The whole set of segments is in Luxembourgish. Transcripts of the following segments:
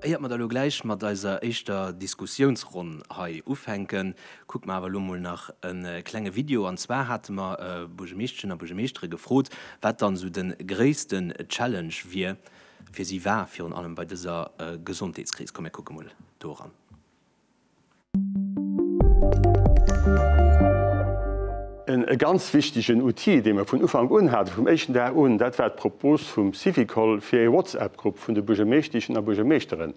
Éiert mer da lo gläich mat eiser éischter Diskussiounsronn hei ufänken, kucke mer awer lo mol nach e klenge Video. An zwar hate mer Buergermeeschteschen a Buergermeeschtere gefrot, wat dann esou de gréisste Challenge wier, fir si war, virun allem bei dëser Gesondheetskris. Komm mir kucke mol do eran. E ganz wichtegen Outil, dee mer vun Ufank un haten, vum éischten Dag un, dat war d'Propos vum Syvicol, fir ee WhatsApp-Grupp vun de Buergermeeschteschen a Buergermeeschteren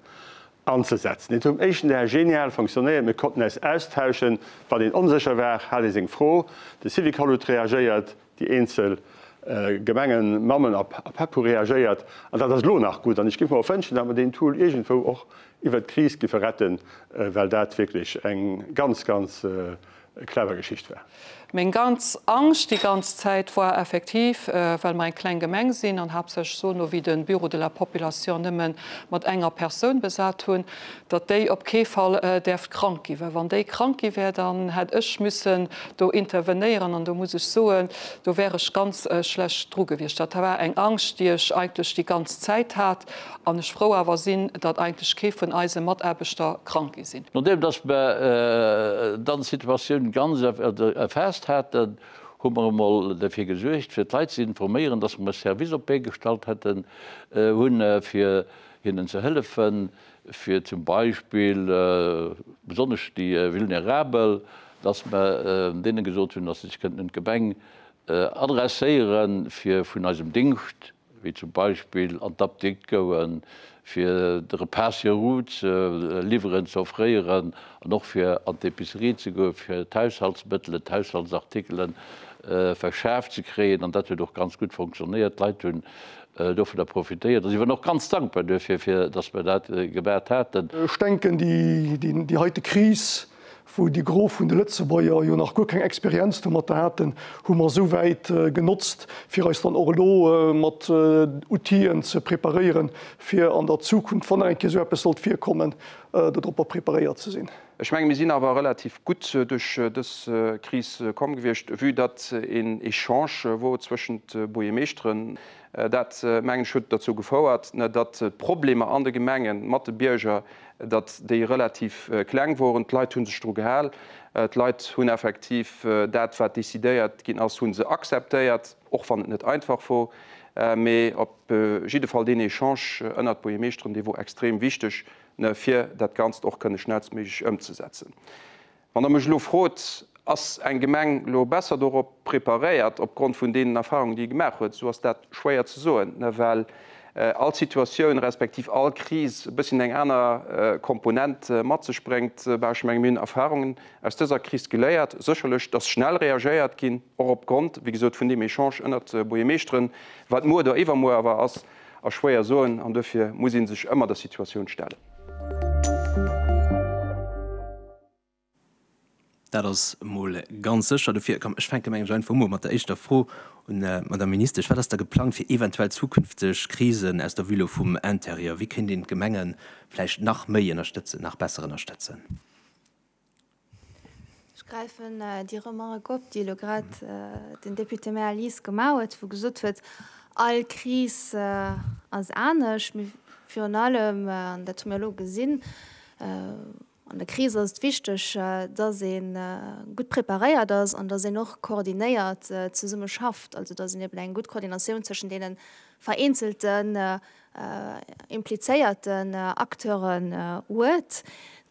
anzesetzen. Dat huet vum éischten Dag genial fonctionnéiert. Mir konnten äis austauschen. Wann een onsécher war, hat ee seng Fro, de Syvicol huet reagéiert, déi eenzel Gemengen, Mammen a Pappe reagéiert, an dat ass elo nach gutt. An ech géif mer och wënschen, datt mer deen Tool iergendwou och iwwert d'Kris géife retten, well dat wierklech eng ganz, ganz clever Geschicht war. Meng ganz Angscht déi ganz Zäit war effektiv, well mer eng kleng Gemeng sinn an haaptsächlech sono wéi de Bureau de la Population nëmme mat enger Persoun besat hunn, datt déi op kee Fall däerft krank gi, well wann déi krank gi wär, dann hätt ech missen do intervenéieren an do muss ech soen, do wär ech ganz schlecht dru gewiescht. Dat war eng Angscht, déi ech eigentlech déi ganz Zäit hat an ech frou awer sinn, datt eigentlech kee vun eise Mataarbechter krank gi sinn. Nodeem datt mer dann d'Situatioun ganz erfaasst haten, hu mer emol derfir gesuergt, fir d'Leit ze informéieren, datt mer e Service op d'Bee gestallt hätten, hunn, fir hinnen ze hëllefen. fir zum Beispill besonnesch déi Vulnerabel, dass mer deene gesot hunn, dass se sech kënnten un d'Gemeng adresséiere fir vun eisem Dingscht, wéi zum Beispill an d'Apdikt goen, fir de Repas sur route ze liwweren, ze offréieren an och fir an d'Epicerie ze goen, fir d'Haushaltsmëttelen, d'Haushaltsartikele verschaft ze kréien. An dat huet och ganz gutt fonctionnéiert. D'Leit hunn dovunner profitéiert a si waren och ganz dankbar duerfir, fir datt mir dat gebat haten. Ech denken, déi heite Kris, wou de Gros vun de Lëtzebuerger jo nach guer keng Experienz domatter haten, hu mer esouwäit genotzt, fir eis dann och elo mat Outill'en ze preparéieren, fir an der Zukunft, wann nach eng Kéier esou eppes sollt virkommen, dodropper preparéiert ze sinn. Ech menge mir sinn awer relativ gutt duerch dës Kris komm gewiescht, vue datt een Echange wor zwëschent Buergermeeschteren. Dat, mengen ech, huet derzou gefouert, datt d'Problemer an de Gemenge mat de Bierger, datt déi relativ kleng woren. D'Leit hu sech dru gehal. D'Leit hunn effektiv dat, wat decidéiert ginn ass, hu se akzeptéiert, och wann et net einfach wor. Mee op jidde Fall deen Echange ënnert Buergermeeschteren, dee wor extrem wichteg, fir dat Ganzt och kënne schnellstméiglech ëmzesetzen. Wann Der mech elo frot, Ass eng Gemeng elo besser dorop preparéiert opgrond vun deenen Erfahrungen, déi e gemaach huet, esou ass dat schwéier ze soen, well all Situatioun respektiv all Kris e bësschen eng aner Komponent mat sech bréngt. Mä ech menge mir hunn Erfahrungen aus dëser Kris geléiert, sécherlech, dass schnell reagéiert ginn, och opgrond, wéi gesot, vun deem Echange ënnert Buergermeeschteren, wat muer oder iwwermuer awer ass. A schwéier soen, an duerfir muss ee sech ëmmer der Situatioun stellen. Dat ass emol ganz sécher. Duerfir, komm, ech fänke mengen Ech einfach emol mat der éischter Fro un d'Madame Ministesch. Wat ass da geplangt fir eventuell zukünfteg Krisen aus der Vue vum Intérieur? Wéi kéint een d'Gemenge vläicht nach méi ënnerstëtzen, nach besser ënnerstëtzen? Ech gräifen déi Remark op, déi elo grad den Député Maire Lies gemaach huet, wou gesot huet, all Kris ass anescht. Mee virun allem, an dat hu mir elo gesinn, an der Kris ass et wichteg, dass ee gutt preparéiert ass an dass een och koordinéiert zesumme schafft, also dass een eben eng gutt Koordinatioun zwëschen deene vereenzelten implizéierten Acteuren huet.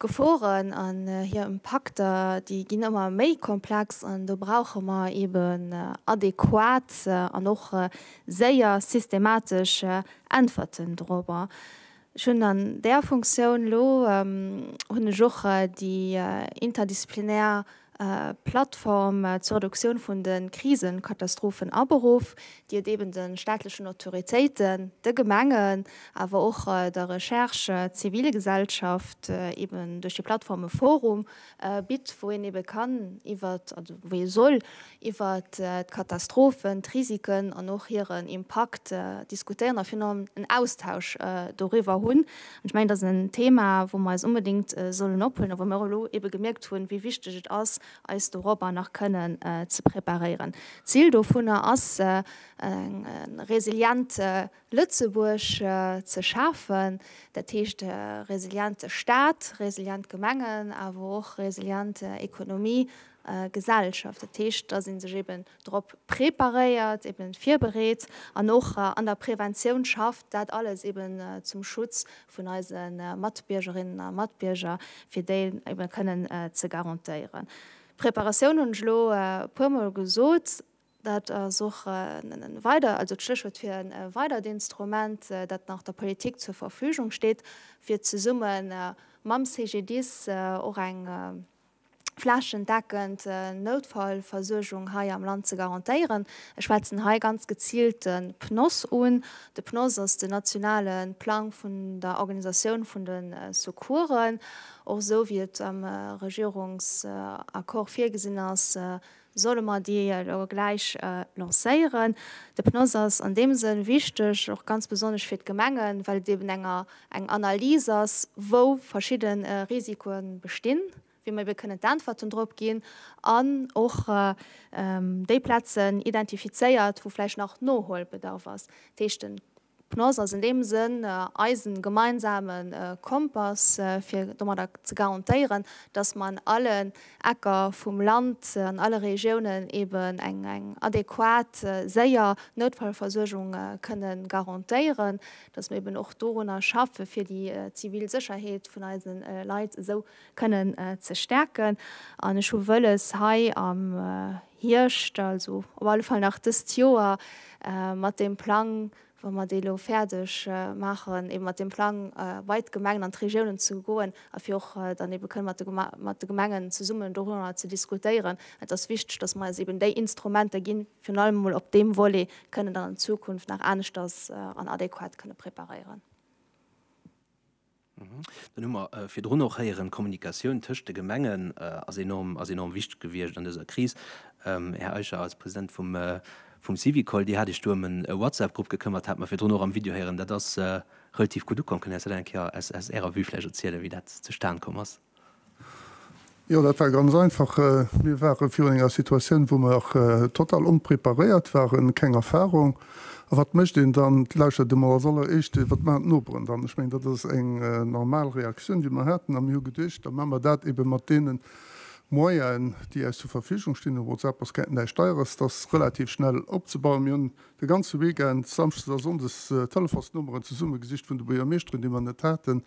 D'Geforen an hir Impakter, déi ginn ëmmer méi komplex an do brauche mer eben adequat an och séier systematesch Äntwerten dorobber. Ech hunn an där Funktioun elo, hunn ech och déi interdisziplinär Plattform zur Reduktioun vun de Krisenkatastrophen aberuff, déi et eben de staatlechen Autoritéiten, de Gemengen, awer och der Recherche, Zivilgesellschaft, eben duerch déi Plattform e Forum bitt, wou een ebe kann iwwert, also wou ee soll iwwert d'Katastrophen, d'Risiken an och hiren Impakt diskutéieren a virun allem en Austausch doriwwer hunn. Ech mengen, dat ass en Thema, wou mer eis onbedéngt sollen ophuelen a wou mir och elo ebe gemierkt hunn, wéi wichteg et ass, eis dorobber nach kënnen ze preparéieren. D'Zil dovunner ass e resiliente Lëtzebuerg ze schafen, dat heescht e resiliente Stat, resilient Gemengen, awer och resilient Ekonomie, Gesellschaft. Dat heescht, dass ee sech eben drop preparéiert, eben virbereet an och an der Preventioun schafft, dat alles eben zum Schutz vun eise Matbiergerinnen a Matbierger, fir déi eben kënnen ze garantéieren. Preparatioun hunn ech elo e puermol gesot, dat ass och e weider, also d'Stéchwuert fir e weidert Instrument, dat nach der Politik zur Verfügung steet, fir zesumme mam CGDIS och eng flächendeckend Noutfallversuergung hei am Land ze garantéieren. Ech schwätzen hei ganz geziilt de PNOSS un. De PNOSS ass den nationale Plang vun der Organisatioun vun de Secoursen. Och esou wéi et am Regierungsaccord virgesinn ass, solle mer déi elo gläich lancéieren. De PNOS ass an deem Sënn wichteg, och ganz besonnesch fir d'Gemengen, well et eben eng Analys ass, wou verschidde Risikoe bestinn, wéi mer ebe kënnen d'Äntwerten drop ginn, an och déi Plazen identifizéiert, wou vläicht nach Nohuelbedarf ass. Dat heescht, de D'Pnoz ass an deem Sënn eisen gemeinsame Kompass fir domadder ze garantéieren, dass mer an allen Ecker vum Land, an alle Regiounen eben eng adequat, séier Noutfallversuergung kënne garantéieren, dass mer eben och dorunner schaffen, fir déi zivil Sécherheet vun eise Leit esou kënnen ze stäerken. An ech hu wëlles hei am. Hierscht, also op alle Fall nach dëst Joer, mat deem Plang, wa mer dee elo fäerdeg maachen, eeben mat deem Plang bei d'Gemengen an d'Regiounen ze goen a fir och dann eebe kënnen mat de Gemengen zesummen dorunner ze diskutéieren. Et ass wichteg, dass mer eis eeben déi Instrumenter ginn, virun allem emol op deem Volet kënnen dann an Zukunft nach aneschters an adequat kënnen preparéieren. Dann hu mer virdrun och héieren, d'Kommunikatioun tëscht de Gemengen ass enorm, ass enorm wichteg gewiescht an dëser Kris. Här Eicher, als President vum Syvicol, Dir hat Iech do ëm en WhatsApp-Grupp gekëmmert, hat mer virdrun och am Video héieren. Dat ass relativ gutt ukomm. Kënnt Dir eis dat eng Kéier aus Ärer Vue vläicht erzielen, wéi dat zustan komm ass? Jo, dat war ganz einfach. Mir ware virun enger Situatioun, wou mer total onpreparéiert waren, keng Erfahrung. A wat mécht een dann? Et lauschert ee mol als alleréischt, wat maachen d'Noperen dann? Ech mengen, dat ass eng normal Reaktioun, déi mer haten. A mir hu geduecht, da maache mer dat ebe mat deene Moyenen, déi äis zur Verfügung stinn. Whatsapp ass näischt Deieres, dat ass relativ schnell opzebauen. Mir hunn De ganze Weekend, Samschdes a Sonndes, Telefonsnummeren zesumme gesicht vun de Buergermeeschteren, déi mer net haten,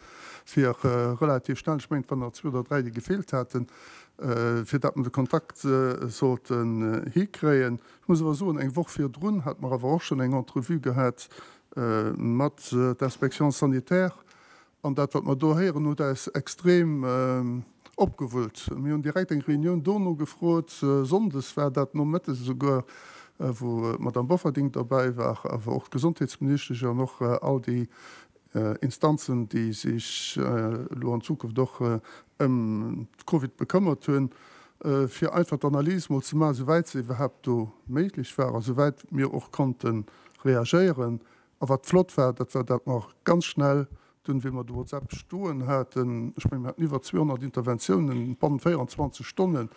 fir relativ schnell, ech mengen et waren der zwee oder dräi, déi gefeelt haten, fir dat mer de Kontakt sollten hikréien. Ech muss awer soen, eng Woch virdrun hate mer awer och schonn eng Entrevue gehat mat der Inspection sanitaire, An dat, wat mer do héieren, huet äis extrem opgewullt. Mir hunn direkt eng Reunioun dono gefrot. Sonndes war dat, nomëttes esouguer, wou d'Madamm Bofferding derbäi war, awer och d'Gesondheetsministesch an och all déi Instanzen, déi sech elo an Zukunft och ëm d'Covid bekëmmert hunn, fir einfach d'Analys mol ze maachen, esouwäit se iwwerhaapt do méiglech war a souwäit mir och konnte reagéieren, A wat flott war, dat war dat mer ganz schnell dunn, wéi mer de WhatsApp stoen haten, ech mengen, mir haten iwwer 200 Interventiounen bannent 24 Stonnen,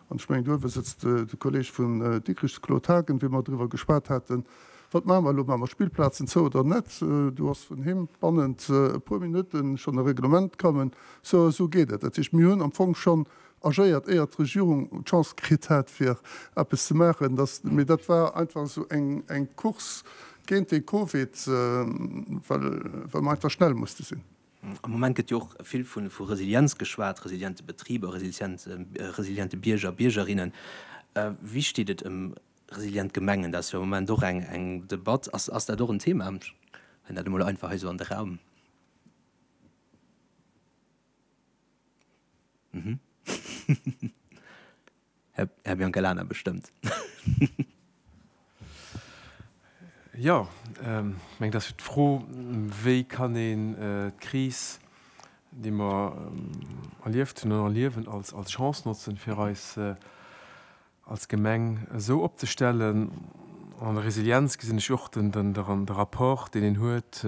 an ech mengen, do uewe sëtzt de Kolleg vun Dikrich, de Claude Haagen, wéi mer driwwer geschwat haten, Wat maache mer elo? Maache mer d'Spillplazen zou oder net? Do ass vun him bannent e puer Minutte schonn e Reglement kommen, So a sou geet et. Dat heescht, mir hunn am Fong schonn agéiert, éier d'Regierung d'Chance kritt hat, fir eppes ze maachen, dass, mee dat war einfach esou eng Course géint de Covid, well mer einfach schnell musste sinn. Am Moment gëtt jo och vill vu Resilienz geschwat, resiliente Betriber, resiliente Bierger, Biergerinnen. Wéi steet et ëm resilient Gemengen? Dat ass jo am Moment och eng Debatt. Ass dat och en Thema? Ech halen dat emol einfach hei esou an de Raum. Här Biancalana, bestëmmt. Jo, ech mengen, dass fir d'Fro, wéi kann een d'Kris, déi mer erlieft hunn an erliewen, als Chance notzen, fir eis als Gemeng esou opzestellen. An der Resilienz gesinn ech och de Rapport, deen een huet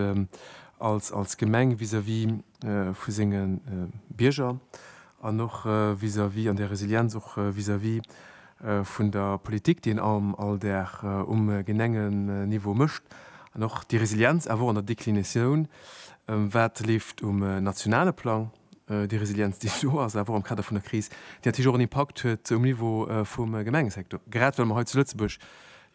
als Gemeng vis-à-vis vu senge Bierger an och vis-à-vis an där Resilienz och vis-à-vis vun der Politik, déi een all Dag um Genengeniveau mécht. An och déi Resilienz awer och an der Deklinatioun, wat leeft um nationale Plang, Déi Resilienz, déi do ass, awer och am Kader vun der Kris, déi natierlech och en Impakt huet um Niveau vum Gemengesektor, grad well mer hei zu Lëtzebuerg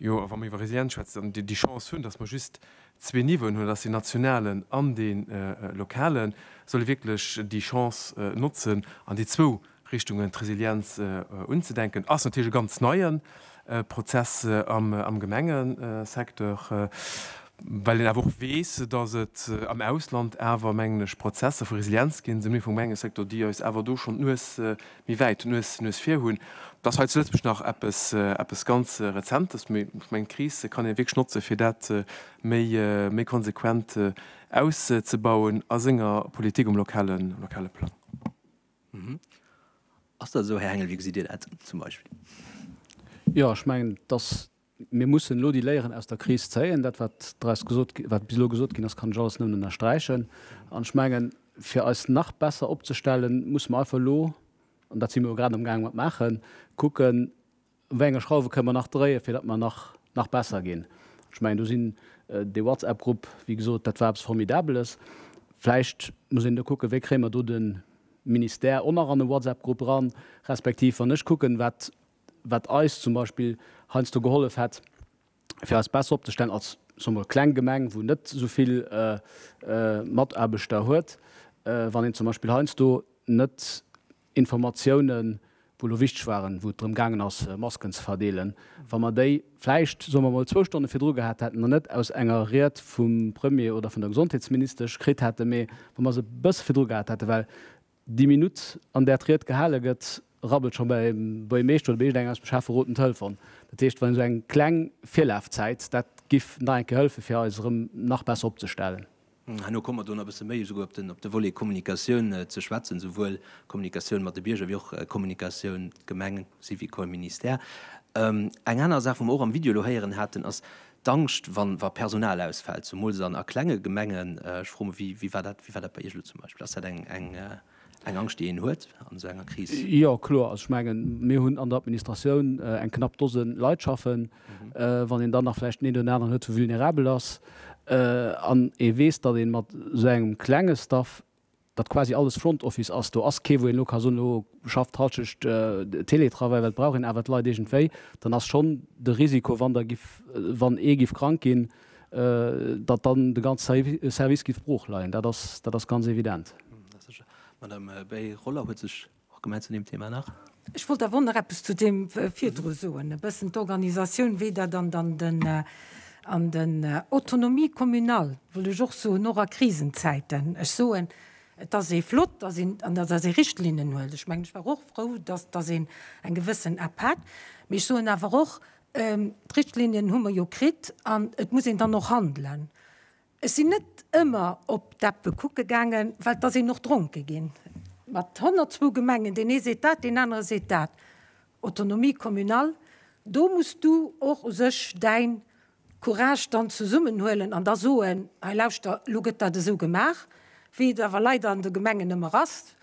jo, wa mer iwwer Resilienz schwätzen, déi Chance hunn, dass mer just zwee Niveauen hunn, dass deen nationalen an dee lokalen, solle wierklech déi Chance notzen an déi zwou Richtung un d'Resilienz unzedenken, ass natierlech e ganz neie Prozess am Gemengesecteur, well een awer och weess, datt et am Ausland awer, mengen ech, Prozesser vu Resilienz ginn, esou méi vum Gemengesecteur, déi eis awer do schonn d'Nues méi wäit, d'Nues vir hunn. Et ass hei zu Lëtzebuerg nach eppes ganz Rezentes, mee ech mengen, d'Kris kann een wierklech notze fir dat méi konsequent auszebauen a senger Politik um lokale Plang. Ass dat esou, Här Hengel? Wéi gesitt Dir dat zum Beispill? Jo, ech mengen, dass mir mussen elo déi Léieren aus der Kris zéien. Dat, wat daraus gesot, wat bis elo gesot ginn ass, kann ech alles nëmmen ënnersträichen. An ech mengen, fir eis nach besser opzestellen, musse mer einfach elo, an dat si mer jo grad amgaange mat maachen, kucken, Wéi enge Schrauwe kënnen mer nach dréien, fir datt mer nach, nach besser ginn? Ech mengen, do sinn, dee WhatsApp-Grupp, wéi gesot, dat war eppes Formidabeles. Vläicht muss een do kucken, wéi kréie mer do de Ministère och nach an e WhatsApp-Grupp eran, respektiv wann ech kucken, wat, wat eis zum Beispill heiansdo gehollef hätt, fir eis besser opzestellen als, soe mer, kleng Gemeng, wou net esou vill Mataarbechter huet, wann een zum Beispill heiansdo net Informatiounen, wou elo wichteg waren, wou et drëm gaangen ass, Masken ze verdeelen, wa mer déi vläicht, soe mer emol, zwou Stonne virdru gehat hätten an net aus enger Ried vum Premier oder vun der Gesondheetsministesch kritt hätten, mee wa mer se e bësse virdru gehat hätten, well déi Minutt, an där d'Ried gehale gëtt, rabbelt scho beim Buergermeeschter oder bei iergendengem aus dem Schäfferot den Telefon. Dat heescht, wann esou eng kleng Virlafzäit, dat giff nach eng Kéier hëllefen, fir eis erëm nach besser opzestellen. Herno komme mer do nach e bësse méi esouguer op de Volet Kommunikatioun ze schwätzen, esouwuel Kommunikatioun mat de Bierger wéi och Kommunikatioun Gemeng, Syvicol, Ministère. Eng aner Saach, wou mer och am Video elo héieren haten, ass d'Angscht, wa Personal ausfält, zemools a klenge Gemengen. Ech froe mech, wéi war dat bei Iech elo zum Beispill? Ass dat eng. Eng Angscht, déi een huet an esou enger Kris? Jo, kloer. Also ech mengen, mir hunn an der Administratioun eng knapp Dose Leit schaffen. Wann een dann nach vläicht den een oder den aneren huet, wou vulnerabel ass an ee weess, datt ee mat esou engem klenge Staff, datt quasi alles Front Office ass, do ass kee wou een elo ka soen, elo schafft Hallschecht Télétravail, well et brauch een awer d'Leit iergendwéi, dann ass schonn de Risiko, wann der giff, wann ee giff krank ginn, datt dann de ganze Service géif brooch leien. Dat ass, dat ass ganz evident. D'Madame Bay-Roller huet sech och gemellt zu deem Thema nach. Ech wollt awer och nach eppes zu deem virdru soen, e bëssen d'Organisatioun, wéi dat an den, an den Autonomie communale, wëll ech och soen, och a Krisenzäiten. Ech soen, et ass ee flott, datt een, an datt ee Richtlinnen huet. Ech mengen, ech war och frou, datt, datt een eng gewëssen App hat. Mee ech soen awer och, D'Richtlinien hu mer jo kritt an et muss een dann och handelen. Ech sinn net ëmmer op d'Appe kucke gaangen, well et ass een och dronke ginn. Mat 102 Gemengen, deen ee seet dat, deen anere seet dat, Autonomie communale, do muss du och u sech däi Courage dann zesummenhuelen an da soen, hei lauschter, elo gëtt dat esou gemaach, wéi et awer leider an de Gemengen ëmmer ass,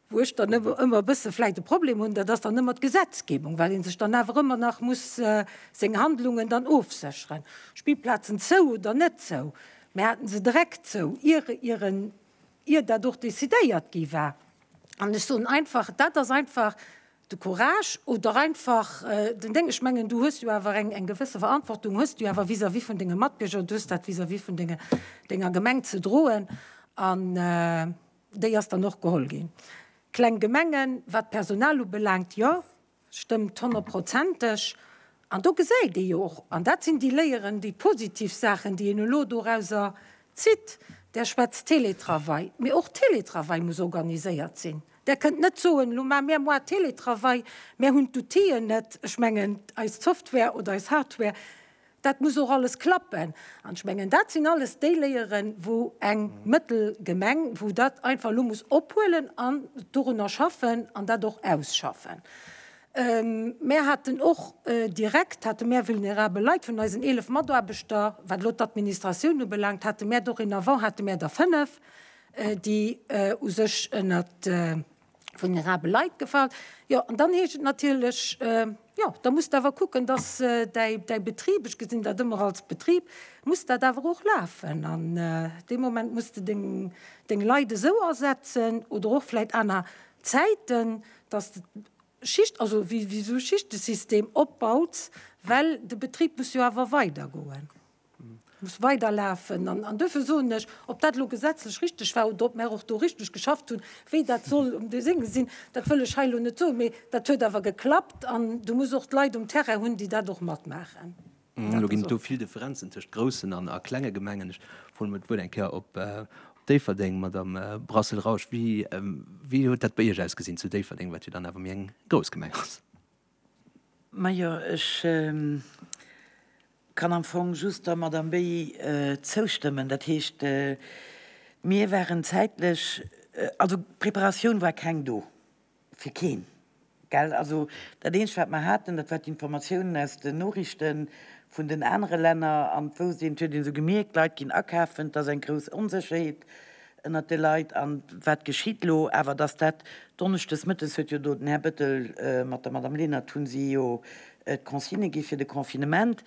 Wou ech dann ëmmer e bësse vläicht e Problem hunn, dat ass dann ëmmer d'Gesetzgebung, well ee sech dann awer ëmmer nach muss seng Handlungen dann ofsécheren. Spillplazen zou oder net zou? Mir haten se direkt zou, ier ieren, ier dat och decidéiert gi war. An ech soen einfach, dat ass einfach de Courage oder einfach den Déng. Ech mengen, du hues jo awer eng gewësse Verantwortung hues du awer vis-à-vis vun denge Matbierger, du hues dat vis-à-vis vun denger Gemeng ze droen an. Déi ass dann och geholl ginn. Kleng Gemengen, wat d'Personal ubelaangt, jo, stëmmt honnertprozenteg. An do gesäit ee jo och, an dat sinn déi Léieren, déi positiv Saachen, déi een elo dorauser zitt, Der schwätzt Teletravail, mee och Teletravail muss organiséiert sinn. Der kënnt net soen, Elo maache mir e Mois Teletravail, mir hunn d'Outill'en net. Ech mengen, eis Software oder eis Hardware Dat muss och alles klappen. An ech mengen, dat sinn alles déi Léieren, wou eng mëttel Gemeng, wou dat einfach elo muss ophuelen an dorunner schaffen an dat och ausschaffen. Mär haten och direkt hate mär vulnerabel Leit. Vun eisen eelef Mataarbechter, wat elo d'Administratioun ubelaangt, hate mär dorénavant hate mär der fënnef, déi u sech ënnert, vulnerabel Leit gefalen. Jo, an dann heescht et natierlech, jo, da muss de awer kucken, dass däi, däi Betrib, ech gesinn dat ëmmer als Betrib, muss dat awer och lafen. An dee Moment muss de deng, deng Leit esou asetzen oder och vläicht aner Zäiten, dass de Schicht, also wéi esou e Schichtesystem opbaus, well de Betrib muss jo awer weidergoen. muss weiderlafen. An duerfir soen ech, ob dat elo gesetzlech richtig war oder ob mär och do richtig geschafft hunn, wéi dat soll um Desenge sinn, dat wëll ech hei elo net soen, mee dat huet awer geklappt an Du muss och d'Leit um Terrain hunn, déi dat och matmaachen. Elo ginn et do vill Differenzen tëscht groussen a klenge Gemengen. Ech froen emol d'Wuert eng Kéier op Déifferdeng, Madamm Brassel-Rausch. Wéi huet dat bei Iech ausgesinn zu Déifferdeng, wat jo dann awer méi eng grouss Gemeng ass? Majo, ech kann am Fong just der Madamm Béy zoustëmmen. Dat heescht, mir waren zäitlech, also d'Preparatioun war keng do, fir keen. Also dat Eenzegt, wat mer haten, dat war d'Informatiounen aus den Noriichte vun den anere Länner. An d'Wouste, et huet ee sou gemierkt, d'Leit ginn akafen, et ass eng grouss Onsécherheet ënnert de Leit an wat geschitt elo awer, dass dat donneschdes mëttes, huet jo do den Här Bettel mat der Madame Lenert, hu si jo d'Consigne gi fir de Confinement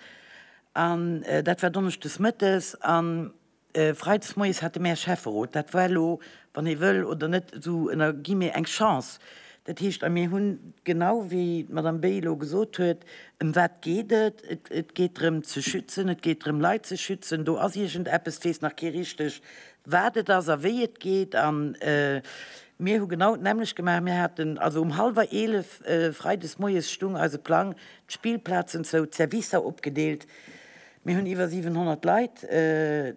an dat war donneschdes mëttes a freides moies hate mär Schäfferot. Dat war elo, wann ee wëll oder net, esou ënner guillemets eng Chance. Dat heescht, a mir hunn, genau wéi d'Madame Bey elo gesot huet, ëm wat geet et, et geet drëm ze schützen, et geet drëm Leit ze schützen, do ass iergend eppes, et weess nach kee richteg wat et ass a wéi et geet. A mir hu genau d'nämmlecht gemaach. Mir haten also um hallwer eelef freides moies stung eise Plang, d'Spillplazen zou, d'Servicer opgedeelt. Mir hunn iwwer 700 Leit,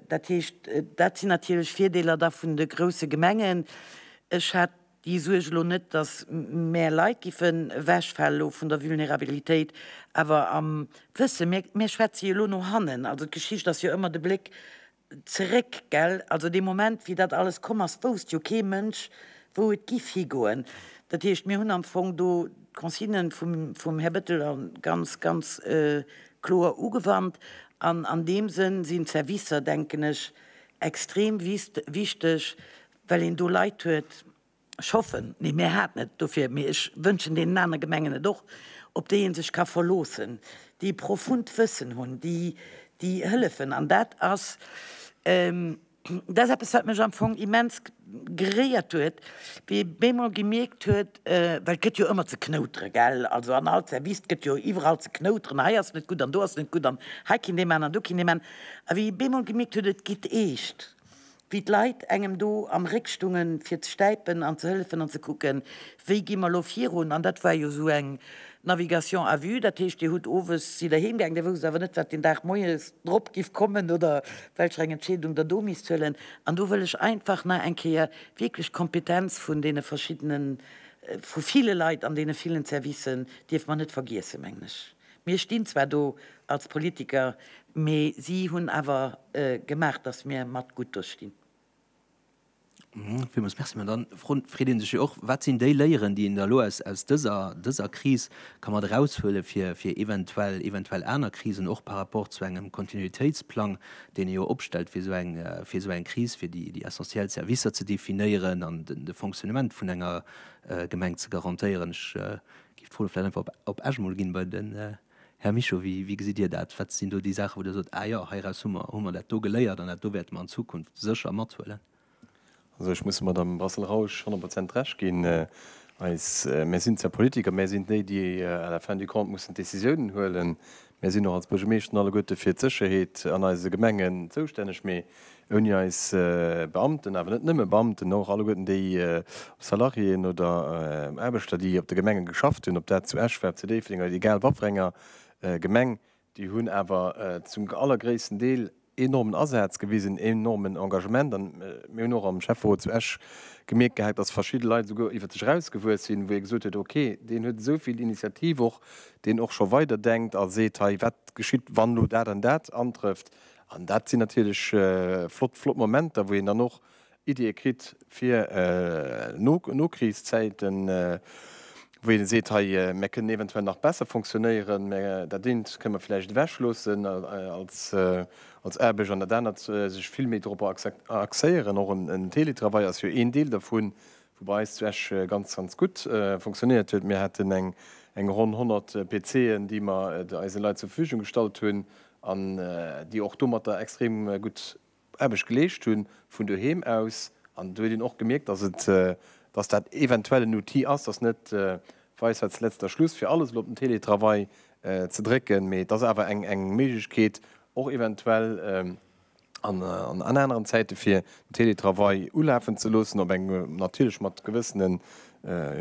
dat heescht, dat sinn natierlech Virdeeler da vun de grousse Gemengen. Ech hat déi Suerg elo net, datt mäer Leit giffe wegfalen elo vun der Vulnerabilitéit, awer am Wësse, mir schwätze jo elo no hannen, also d'Geschicht ass jo ëmmer de Bléck zeréck, gell? Also dee Moment, wéi dat alles komm ass, wousst jo kee Mënsch, wou et giff higoen. Dat heescht, mir hunn am Fong do d'Consigne vum Här Bettel ganz, ganz kloer ugewannt. An an deem Sënn sinn d'Servicer, denken ech, extrem wichteg, well een do Leit huet, Ech hoffen, mee mir haten et dofir, mee ech wënschen deenen anere Gemengen et och, op déi ee sech ka verloossen, déi profunnt Wëssen hunn, déi hëllefen. An dat ass eppes, wat mech am Fong immens geréiert huet, wéi ee bemol gemierkt huet, well et gëtt jo ëmmer ze knoutere, gell, also an all Service gëtt jo iwwerall ze knouteren, hei ass net gutt an do ass net gutt an hei kinnt ee man an do kinnt ee man, a wéi ee bemol gemierkt huet, et geet eescht, wéi d'Leit engem do am Réck stungen fir ze stäipen an ze hëllefen an ze kucken, wéi gi mer lo virun. An dat war jo esou eng Navigation à vue, dat heescht, Dir hutt owes, sidd Der heem gaangen, Dir wousst awer net, wat deen Dag moies drop giff kommen oder welcher eng Entscheedung Der do misst huelen. An do wëll ech einfach nach eng Kéier wierklech d'Kompetenz vun deene verschiddenen, vu ville Leit an deene villen Servicen dierfe mer net vergiessen, mengen ech. Mir stinn zwar do als Politiker, mee si hunn awer gemaach, dass mir mat gutt do stinn. Villmools Merci. Mä da freet ee sech jo och, Wat sinn déi Léieren, déi een da elo aus dëser Kris ka mat eraushuele fir eventuell aner Krisen, och par rapport zu engem Kontinuitéitsplang, deen ee jo opstellt fir esou eng Kris, fir déi essentiell Servicer ze definéieren an de Fonctionnement vun enger Gemeng ze garantéieren? Giff d'Fro vläit einfach op Esch mol ginn bei den Här Mischo. Wéi gesitt Dir dat? Wat sinn do déi Saachen wou Dir sot, ah jo, heiraus hu mer hu mer dat do geléiert an dat do wäerte mer an Zukunft sécher mathuelen? Also ech muss dem Madamm Brassel-Rausch honnert Prozent Recht ginn. Eis, mär sinn zwar Politiker, mär sinn déi déi à la fin du compte mussen d'Décisiounen huelen. Mir sinn och als Buergemeeschten alleguerte fir d'Sécherheet an eise Gemengen zoustänneg, mee ouni eis Beamten, awer net nëmme Beamten, mä och alleguerten déi Salariéen oder Aarbechter, déi op de Gemenge geschafft hunn, ob dat zu Esch war, zu Déifferdeng oder egal wa fir enger Gemeng, déi hunn awer zum allergréissten Deel enormen Asaz gewisen, een enormen Engagement. An mir hunn och am Schäfferot zu Esch gemierkt gehat, dass verschidde Leit esouguer iwwert sech erausgewuess sinn, wou ee gesot huet, ok, deen huet esou vill Initiativ och, deen och scho weider denkt a seet, hei, wat geschitt, wann elo dat an dat antrëfft. An dat sinn natierlech flott, flott Momenter, wou een dann och Iddie kritt fir Nokrichszäiten, wou een seet, hei, mir kënnen eventuell nach besser funktionéieren, mä dat eent kënne mir vläicht ewechloossen als Aarbecht an dat anert sech vill méi dorop axéieren. Och e Teletravail ass jo een Deel dovun, wou bei eis zu Esch ganz, ganz gutt funktionéiert huet. Mir haten eng ronn 100 PCen, déi mer eise Leit zur Verfügung gestallt hunn an déi och domatter extrem gutt, Aarbecht geleescht hunn, vun doheem aus. An do huet een och gemierkt, dass et, dass dat eventuell en Outil ass, dass net Weisheits letzter Schluss fir alles elo op den Teletravail ze drécken, mee et ass awer eng, eng Méiglechkeet och eventuell an, an aneren Zäite fir den Teletravail ulafen ze loossen, op eng, natierlech mat gewëssene,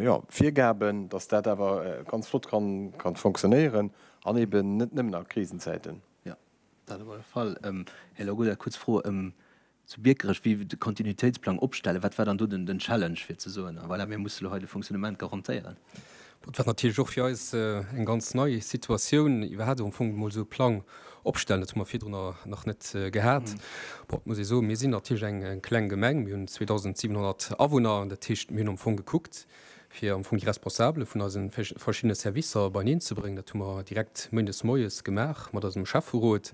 jo, Virgaben, dass dat awer ganz flott kann, kann fonctionnéieren an eeben net nëmmen a Krisenzäiten. Dat op alle Fall. Här Lagoda, kuerz Fro zu Biekerech, wéi de Kontinuitéitsplang opstellen. Wat war dann do den Challenge fir ze soen, voilà, mir musse lo hei de Fonctionnement garantéieren? Dat war natierlech och fir eis eng ganz nei Situatioun, iwwerhaapt am Fong emol esou e Plang opstellen. Dat hu mer virdrun nach net gehat. Bon, et muss ee soen, mir sinn natierlech eng kleng Gemeng, mir hunn 2.700 Awunner. Dat heescht, mir hunn am Fong gekuckt, fir am Fong déi Responsabele vun eise verschiddene Servicer beieneen ze bréngen. Dat hu mer direkt Méindes moies gemaach mat eisem Schäfferot.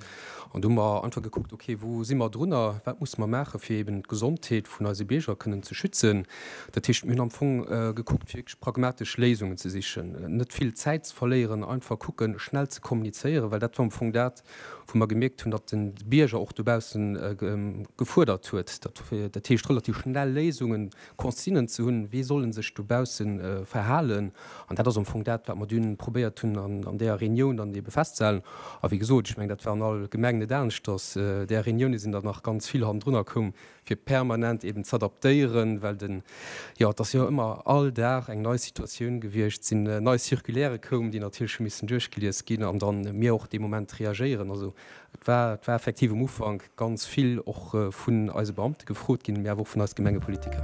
An do hu mer einfach gekuckt, okay, wou si mer drunner, wat musse mer maachen, fir eeben d'Gesondheet vun eise Bierger kënnen ze schützen. Dat heescht, mir hunn am Fong gekuckt, fir wierklech pragmatesch Léisungen ze sichen, net vill Zäit ze verléieren, einfach kucken, schnell ze kommunizéieren, well dat war am Fong dat, wou mer gemierkt hunn, datt de Bierger och dobausse gefuerdert huet, dat heescht relativ schnell Léisungen Consignen ze hunn, wéi soll en sech dobausse verhalen. An dat ass am Fong dat, wat mer dunn probéiert hunn an där Reunioun dann ebe festzehalen. A wéi gesot, ech mengen, dat war an all Gemeng net aneschters, där Reunioune sinn der nach ganz vill hannendrunner koum, fir permanent eben z'adaptéieren, well den, jo, et ass jo ëmmer all Dag eng nei Situatioun gewiescht, sinn nei Circulairë koum, déi natierlech hu missen duerchgelies ginn an da mir och dee Moment reagéieren. Also. Et war, et war effektiv um Ufank ganz vill och vun eise Beamte gefrot ginn, mee awer och vun eis Gemengepolitiker.